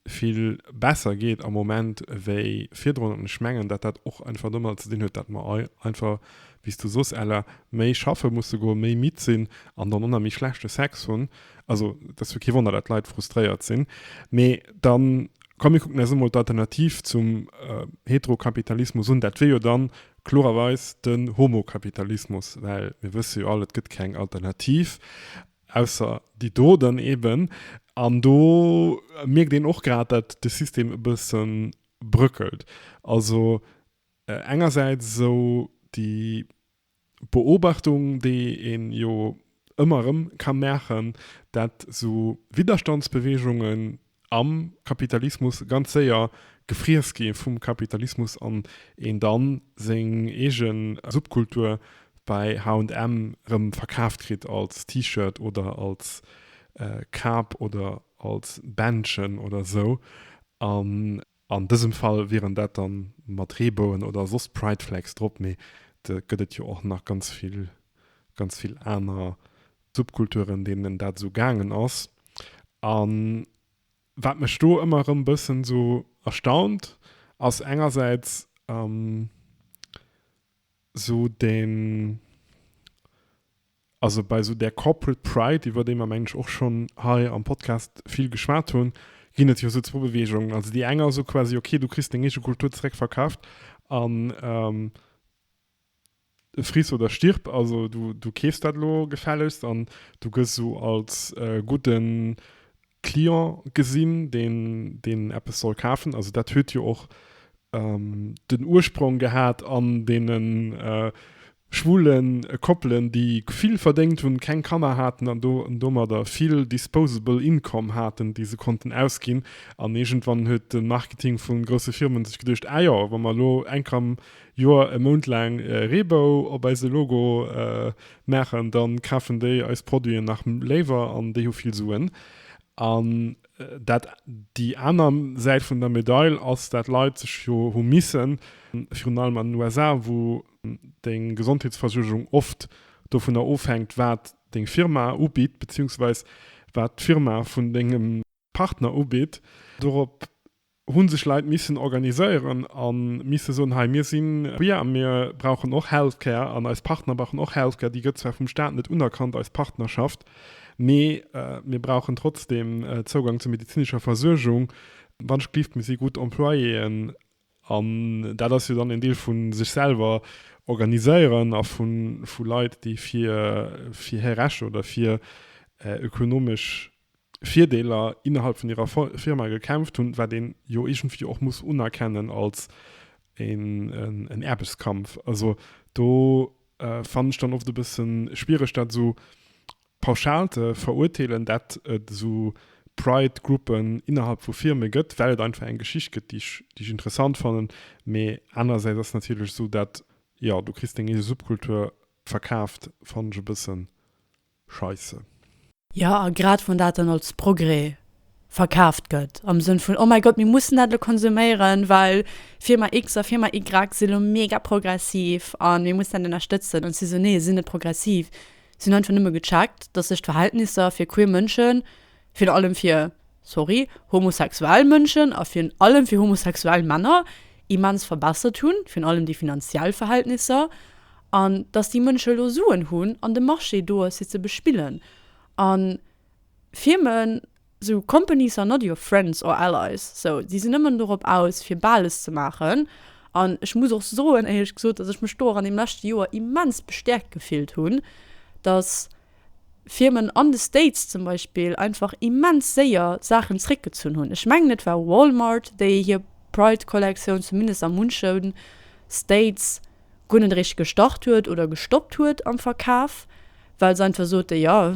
vill besser geet am Moment wéi virdrun an ech mengen dat dat och einfach domadder ze dinn huet dat mer all einfach wéi s du soss Ella méi schaffe musse goen, méi midd sinn an dann och nach méi schlechte Sex hunn Also dat ass jo kee Wonner, datt d'Leit frustréiert sinn. Mee da komm mir kucken eis emol d'Alternativ zum Heterokapitalismus un. Dat wier jo da kloererweis den Homokapitalismus, well mir wësse jo all, et gëtt keng Alternativ ausser déi do dann eeben. An do mierkt een och grad, datt de System e bësse bröckelt. Also engersäits esou déi Beobachtung déi een jo ëmmer erëm ka maachen, dat sou Widderstandsbeweegungen am Kapitalismus ganz séier gefriess gi vum Kapitalismus an een dann seng eegen Subkultur bei H&M erëm verkaaft kritt als T-Shirt oder als Kap oder als Bändchen oder sou an An dësem Fall wieren dat dann mat Reebouen oder soss Pride Flags drop, mee et gëtt et jo och nach ganz vill, ganz vill aner Subkulturen, deenen dat esou gaangen ass. An wat mech do ëmmer erëm bëssen esou erstaunt, ass engersäits esou den, Also bei esou där Corporate Pride, iwwer déi mer mengen ech och schonn hei am Podcast vill geschwat hunn, ginn et jo esou zwou Beweegungen. Also déi eng ass esou quasi, ok, du kriss deng eege Kultur zeréckverkaaft an friss oder stirb. Also du keefs dat elo gefällegst an du gëss esou als gudden Client gesinn, deen, deen eppes soll kafen. Also dat huet jo och den Ursprong gehat an deene schwule Koppelen, déi vill verdéngt hunn, keng Kanner haten an do, an domadder vill disposable income haten, déi se konnten ausginn. An iergendwann huet de Marketing vu grousse Firme sech geduecht, Ah jo, wa mer elo Enkem Joer e Mount laang Reebou op eise Logo maachen, da kafen déi eis Produiten nach léiwer an déi hu vill Suen. An dat déi aner Säit vun der Medail ass, dat Leit sech jo hu missen, virun allem an den USA, wou deng Gesondheetsversuergung oft dovunner ofhänkt, wat deng Firma ubitt, beziehungsweis wat d'Firma vun dengem. Partner ubitt. Dorop hu sech Leit missen organiséieren a misse soen, hei mir si queer a mir brauchen och Healthcare an eis Partner brauchen och Healthcare. Déi gëtt zwar vum Staat net unerkannt, eis Partnerschaft, mee mir brauchen trotzdeem Zougang zur medezinescher Versuergung, wannschtgelift mir si gutt Employéeën. An dat ass jo dann een Deel vu sech selwer organiséieren a vu Leit, déi fir hir Recht oder fir ökonomesch Virdeeler innerhalb vun hirer Firma gekämpft hunn, wat een jo iergendwéi och muss unerkennen als en Aarbechtskampf. Also do fannen ech dann oft e bëssen schwiereg dat esou pauschal ze verurteelen, dat et esou Pride Gruppen innerhalb vu Firme gëtt, well et einfach eng Geschicht gëtt déi ech interessant fannen. Mee anerersäits ass natierlech esou dat, jo, du kriss deng eege Subkultur verkaaft, fannen ech e bëssen. Scheisse. Jo, a grad wann dat dann als Progrès verkaaft gëtt, am Sënn vun, oh mäi Gott, mir mussen dat elo konsuméieren, well Firma X a Firma Y si elo mega progressiv a mir mussen dat ënnerstëtzen. An ech si esou, Nee, si net progressiv, si hunn einfach nëmme gecheckt, datt sech d'Verhältnisser fir queer Mënschen, virun allem fir, sorry, homosexuell Mënschen a virun allem fir homosexuell Männer immens verbessert hunn, virun allem déi finanziell Verhältnisser, an dass déi Mënsche elo Suen hunn an de Marché do ass, fir ze bespillen. A Firmen, esou companies are not your friends or allies, esou, déi sinn nëmmen dorop aus, fir Bales ze maachen. An ech muss och soen, éierlech gesot, dass ech mech do och an deem leschte Joer immens bestäerkt gefillt hunn, dass, Firmen an de States zum Beispill einfach immens séier Saachen zréckgezunn hunn. Ech mengen et war Walmart, déi hir Pride-Kollektioun zumindest a munche States guer net eréischt gestart huet oder gestoppt huet am Verkaf, well se einfach soten, jo,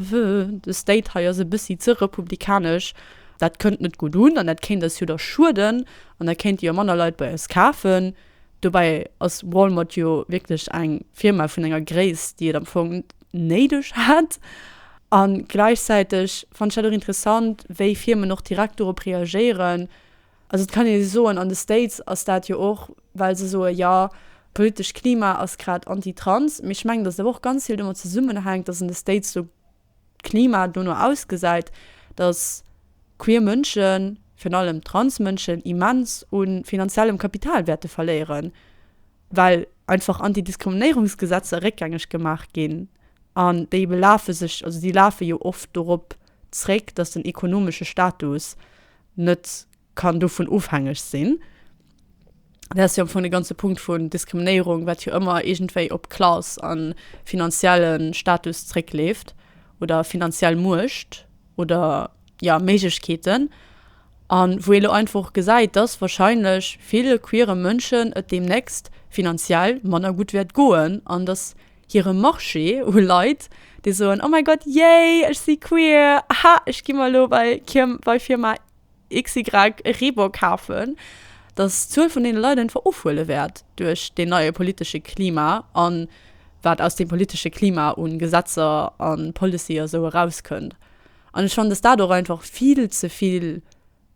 de State hei ass e bëssi ze republikanesch, dat kënnt net gutt un an dat kéint eis jo da schueden an da kéinte jo manner Leit bei eis kafen. Dobäi ass Walmart jo wierklech eng Firma vun enger Gréisst, déi et am Fong. néideg hätt. A gläichzäiteg fand ech dat och interessant, wéi Firmen och direkt dorop reagéieren. Also et kann ee jo soen, an de States ass dat jo och, well se soe jo, politescht Klima ass grad anti-trans. Mee ech mengen, datt et awer och ganz vill domat zesummenhänkt, datt an de States de Klima dono ausgesäit, datt queer Mënschen, virun allem trans Mënschen, immens u finanziellem Kapital wäerte verléieren. well einfach Antidiskriminéierungsgesetzer réckgängeg gemaach ginn an déi belafe sech, also déi lafe jo oft dorop zréck, datt den ekonomesche Status net kann dovun ofhängeg sinn. Dat ass jo am Fong de ganze Punkt vun Diskriminéierung, wat jo ëmmer iergendwéi op Klass a finanzielle Status zréckleeft oder finanziell Muecht oder, ja, Méiglechkeeten an wou ee lo einfach och gesäit, dass wahrscheinlech ville queere Mënschen et deemnächst finanziell manner gutt wäert goen an dass hire Marché u Leit, déi soen, oh mäi Gott, yay, ech si queer, ha, ech gi mer lo bei bei Firma xy e Reebok kafen, dass d'Zuel vun deene Leit einfach ofhuele wäert duerch deen neie politesche Klima a wat aus deem politesche Klima u Gesetzer a Policy a sou erauskënnt. An ech fannen, dass dat och einfach vill ze vill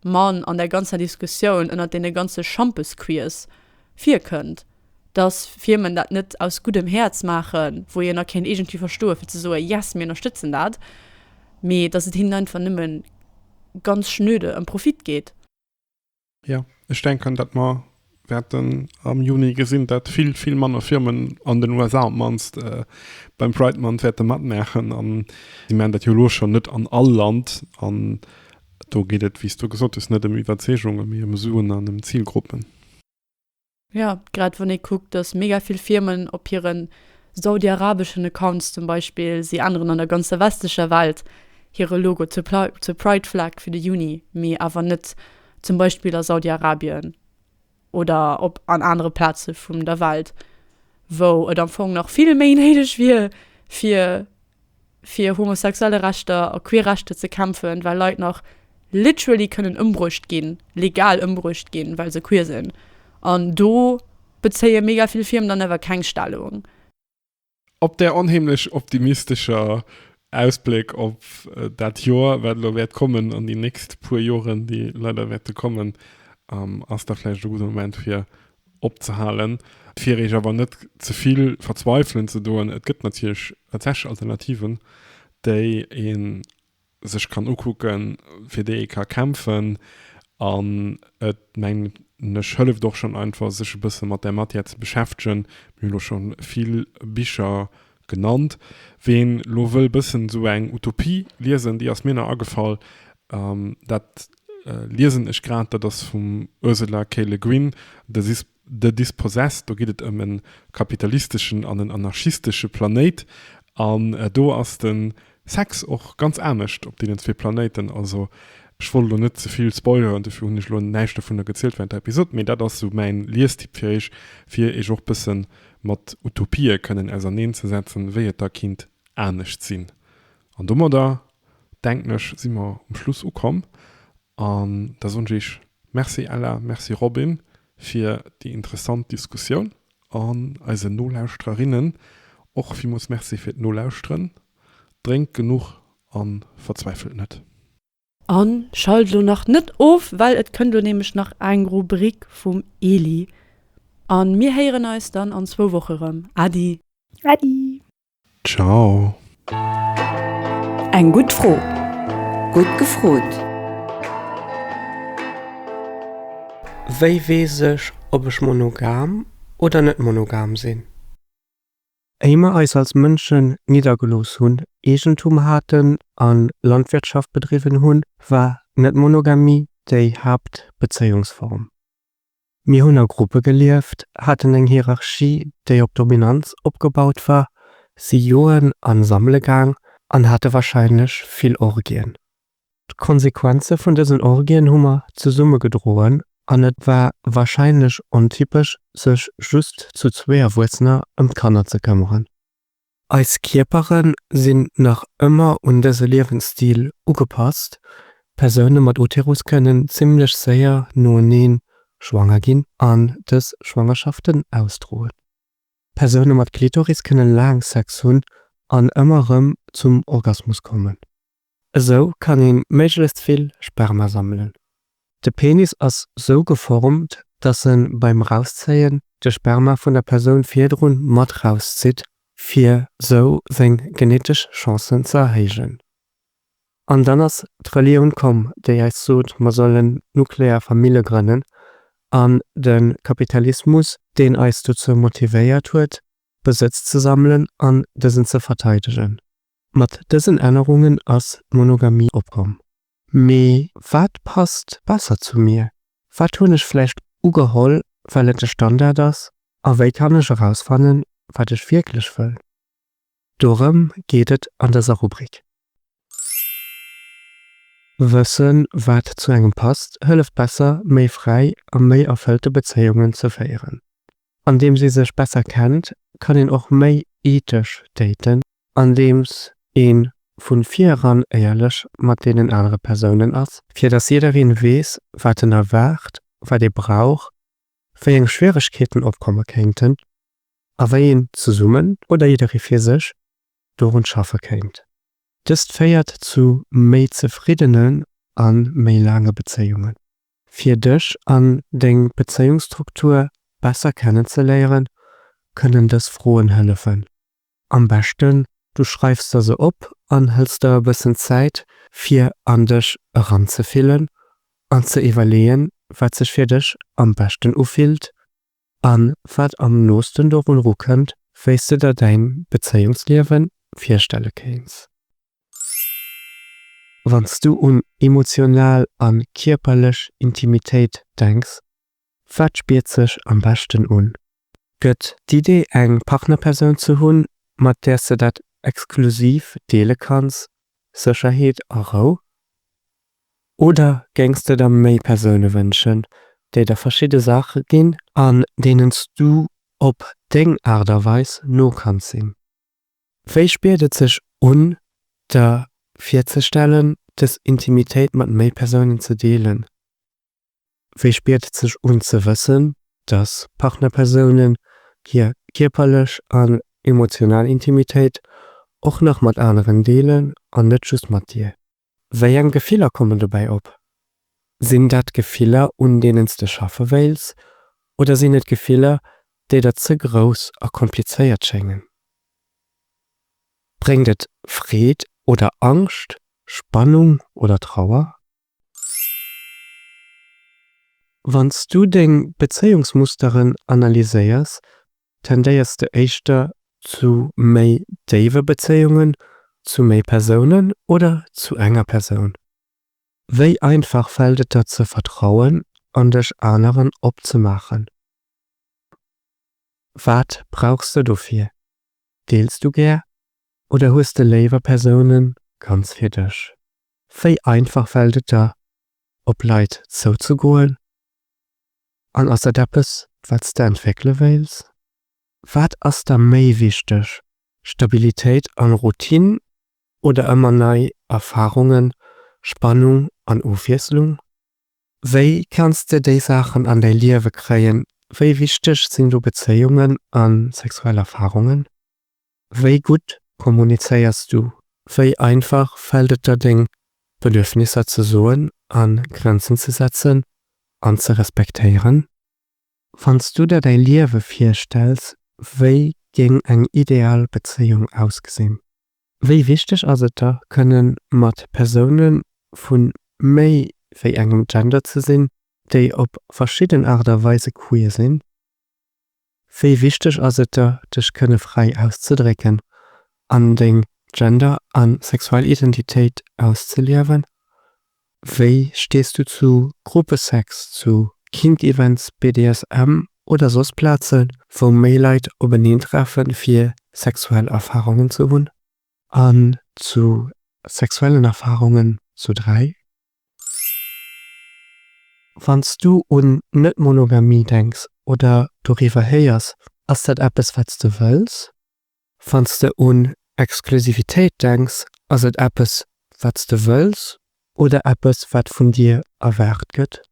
man an der ganzer Diskussioun ënnert deene ganze Schampesquiz virkënnt, dass Firmen dat net aus guddem Häerz maachen, wou een a kéint iergendwéi verstoe fir ze soen, yes, mir ënnerstëtzen dat, mee dass et hinnen einfach nëmme ganz schnöde ëm Profit geet. Jo, ech denken, datt mer wäerten am Juni gesinn, datt vill, vill manner Firmen, an den USA op d'mannst, beim Pride Month wäerte matmaachen. An si maachen dat jo elo schonn net an all Land. An do geet et, wéi s du gesot hues, net ëm Iwwerzeegungen, mee ëm Suen an ëm Zilgruppen. Jo, grad wann ee kuckt, dass mega vill Firmen op hiren saudiarabeschen Accounts zum Beispill, si änneren an der ganzer westlecher Welt hire Logo zur zur Pride Flag fir de Juni, mee awer net zum Beispill a Saudiarabien oder op an anere Plaze vum der Welt, wou et am Fong nach vill méi néideg wier fir fir homosexuelle Rechter a queer Rechter ze kämpfen, well Leit nach literally kënnen ëmbruecht ginn, legal ëmbruecht ginn, well se queer sinn. An do bezéie mega vill Firmen dann awer keng Stellung. Op där onheemlech optimistescher Ausbléck op dat Joer, wat elo wäert kommen, an déi nächst puer Joren, déi leider wäerte kommen, ass da vläicht e gudde Moment, fir opzehalen, fir iech awer net zevill verzweifelen ze doen. Et gëtt natierlech tatsächlech Alternativen, déi ee sech kann ukucken, fir déi ee ka kämpfen an et mengen ech hëlleft och schonn einfach sech e bësse mat där Matière ze beschäftegen. Mir hu elo scho vill Bicher Genannt. Ween lo wëll bëssen esou eng Utopie liesen, déi ass mir nach agefall, dat liesen ech grad, dat ass vum Ursula K. Le Guin, The Dispossessed. Do geet et ëm e kapitalisteschen an en anarchistesche Planéit an do ass de Sex och ganz anescht op deenen zwee Planéiten. Also ech wollt elo net zevill spoileren, dofir hunn ech elo näischt dovunner gezielt wärend der Episod, mee dat ass esou mäin Liestipp fir iech, fir iech och bësse mat Utopië kënnen auserneen ze setzen, wéi et da kinnt anescht sinn. An domadder denken ech si mer um Schluss ukomm an da soen ech iech Merci Ella, Merci Robin fir déi interessant Diskussioun. An eisen Nolauschtererinnen och villmools Merci fir d'Nolauschteren. Drénkt genuch a verzweifelt net. A schalt elo nach net of, well et kënnt elo nämlech nach eng Rubrik vum Eli. A mir héieren eis dann an zwou Woche rëm. Äddi! Äddi! Ciao. Eng gutt Fro, gutt gefrot. Wéi weess ech ob ech monogam oder net monogam sinn? Éier mer eis als Mënschen niddergelooss hunn, Eegentum haten a Landwirtschaft bedriwwen hunn, war d'Net-Monogamie déi Haaptbezéiungsform. Mir hunn a Gruppe gelieft, haten eng Hierarchie, déi op Dominanz opgebaut war, si joen an sammele gaang an hate warscheinlech vill Orgien. D'Konsequenze vun dësen Orgien hu mer zesumme gedroen an et war warscheinlech ontypesch, sech just zu zwee Erwuessener ëm d'Kanner ze këmmeren. Eis Kierpere sinn nach ëmmer un dëse Liewensstil ugepasst, Persoune mat Uterus kënnen zimmlech séier noeneen schwanger ginn an dës Schwangerschaften ausdroen. Persoune mat Klitoris kënne laang Sex hunn an ëmmer rëm zum Orgasmus kommen. Esou kann ee méiglechst vill Sperma sammelen. De Penis ass sou geformt, dass en beim Rauszéien de Sperma vun der Persoun virdrun mat rauszitt, fir sou seng genetesch Chancen ze erhéijen. An dann ass d'Relioun komm, déi eis sot, mer sollen nuklear Famille grënnen, an de Kapitalismus, deen eis dozou motivéiert huet, Besëtz ze sammelen an dësen ze verteidegen. Mat dësen Ännerungen ass d'Monogamie opkomm. Mee wat passt besser zu mir? Wat hunn ech vläicht ugeholl, well et de Standard ass? A wéi kann ech erausfannen, wat ech wierklech wëll? Dorëm geet et an dëser Rubrik. Wëssen, wat zu engem passt, hëlleft besser, méi fräi a méi erfëllte Bezéiungen ze féieren. Andeems ee sech besser kennt, kann een och méi ethesch daten. Andeems ee vu vir eran éierlech mat deenen anere Persounen ass. Fir dass jiddereen weess, wat en erwaart, wat ee brauch, wéi eng Schwieregkeeten opkomme kéinten a wéi een zesummen oder jidderee fir sech dorun schaffe kéint. Dëst féiert zu méi zefriddenen a méi laange Bezéiungen. Fir dech an deng Bezéiungsstruktur besser kennenzeléieren, kënnen dës Froen hëllefen. Am beschten du schreifs der se op an hëls der e bëssen Zäit fir an dech eranzefillen an ze iwwerleeën, wat sech fir dech am beschten ufillt An wat am noosten dorun ru kënnt, wéis de der däin Bezéiungsliewen virstelle kéins. Wann s du un emotional an kierperlech Intimitéit denks, wat spiert sech am beschten un? Gëtt d'Idee eng Partnerpersoun ze hunn, mat där s de dat exklusiv deele kanns, Sécherheet a Rou? Oder géings de der méi Persoune wënschen, déi der verschidde Saache ginn an deenen s du op deng Aart a Weis no kanns sinn? Wéi spiert et sech un, der virzestellen, dës Intimitéit mat méi Persounen ze deelen? Wéi spiert et sech un ze wëssen, dass Partnerpersounen hir kierperlech an emotional Intimitéit och nach mat aneren deelen an net just mat dir? Wéi eng Gefiller kommen dobäi op? Sinn dat Gefiller, un deenen s de schaffe wéils, oder sinn et Gefiller, déi der ze grouss a komplizéiert schéngen? Bréngt et Freed oder Angscht, Spannung oder Trauer? Wann s du deng Bezéiungsmusteren analyséiers, tendéiers de éischter zu méi déiwe Bezéiungen zu méi Persounen oder zu enger Persoun? Wéi einfach fält et der ze vertrauen an dech aneren opzemaachen? Wat brauchs de dofir? Deels du gär oder hues de léiwer Persounen ganz fir dech? Wéi einfach fält et der, op Leit zouzegoen? An ass dat eppes, wat s de entwéckele wéilts? Wat ass der méi wichteg, Stabilitéit an Routine oder ëmmer nei Erfarungen, Spannung an Ofwiesslung? Wéi kanns de déi Saachen an däi Liewe kréien? Wéi wichteg sinn do Bezéiungen a sexuell Erfarungen? Wéi gutt kommunizéiers du? Wéi einfach fält et der deng Bedürfnisser ze soen a Grenzen ze setzen an ze respektéieren? Wann s du der däi Liewe virstells, wéi géing eng ideal Bezéiung ausgesinn? Wéi wichteg ass et der, kënne mat Persoune vu méi wéi engem Gender ze sinn, déi op verschidden Aart a Weise queer sinn? Wéi wichteg ass et der, dech kënne fräi auszedrécken an deng Gender a sexuell Identitéit auszeliewen? Wéi stees du zu Gruppesex, zu Kink-Events, BDSM oder soss Plazen, wou méi Leit openeen treffen, fir sexuell Erfarungen ze hunn? An zu sexuellen Erfarungen zu dräi? Wanns du un Net-Monogamie denks oder doriwwer héiers, ass dat eppes wats de wëlls? Wanns de un Exklusivitéit denks, ass et eppes wats de wëlls oder eppes wat vun dir erwaart gëtt?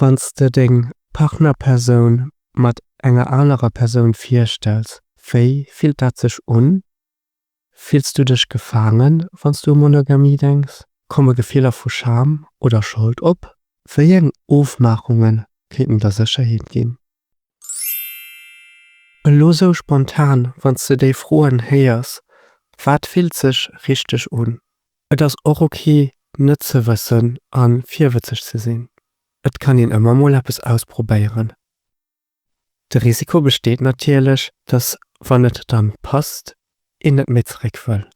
Wanns de deng Partnerpersoun mat enger anerer Persoun virstells, wéi fillt dat sech un? Fills du dech gefaangen, wann s du u Monogamie denks? Komme Gefiller vu Scham oder Schold op? Wéi eng Ofmaachunge kéinten der Sécherheet ginn? Elo sou spontan, wann s de déi Froen héiers, wat fillt sech richteg un? Et ass och ok, net ze wëssen a virwëtzeg ze sinn. Et kann een ëmmer mol eppes ausprobéieren. De Risiko besteet natierlech, dass, wann et dann passt, een net méi zeréck wëll.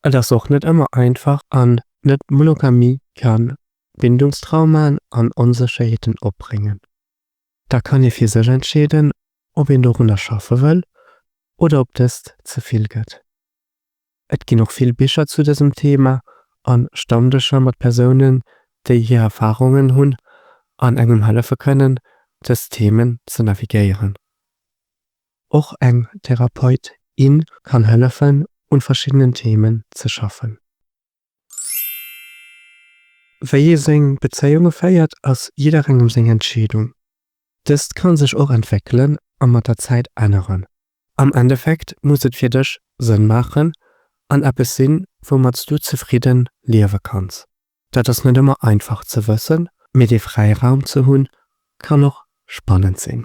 Et ass och net ëmmer einfach an net Monogamie kann Bindungstraumaen an Onsécherheeten opbréngen. Da kann ee fir sech entscheeden, ob een dorunner schaffe wëll oder ob dëst ze vill gëtt. Et ginn och vill Bicher zu dësem Thema a Stammdëscher mat Persounen, déi hir Erfarungen hunn an engem hëllefe kënnen, dës Themen ze navigéieren. Och eng Therapeut, in kann hëllefen, un verschiddenen Themen ze schaffen. Wéi ee seng Bezéiunge féiert, ass jidderengem seng Entscheedung. Dëst ka sech och entwéckelen a mat der Zäit änneren. Am Endeffekt muss et fir dech Sënn maachen an eppes sinn, woumat s du zefridde liewe kanns. Dat ass net ëmmer einfach ze wëssen, mee dee Fräiraum ze hunn, kann och spannend sinn.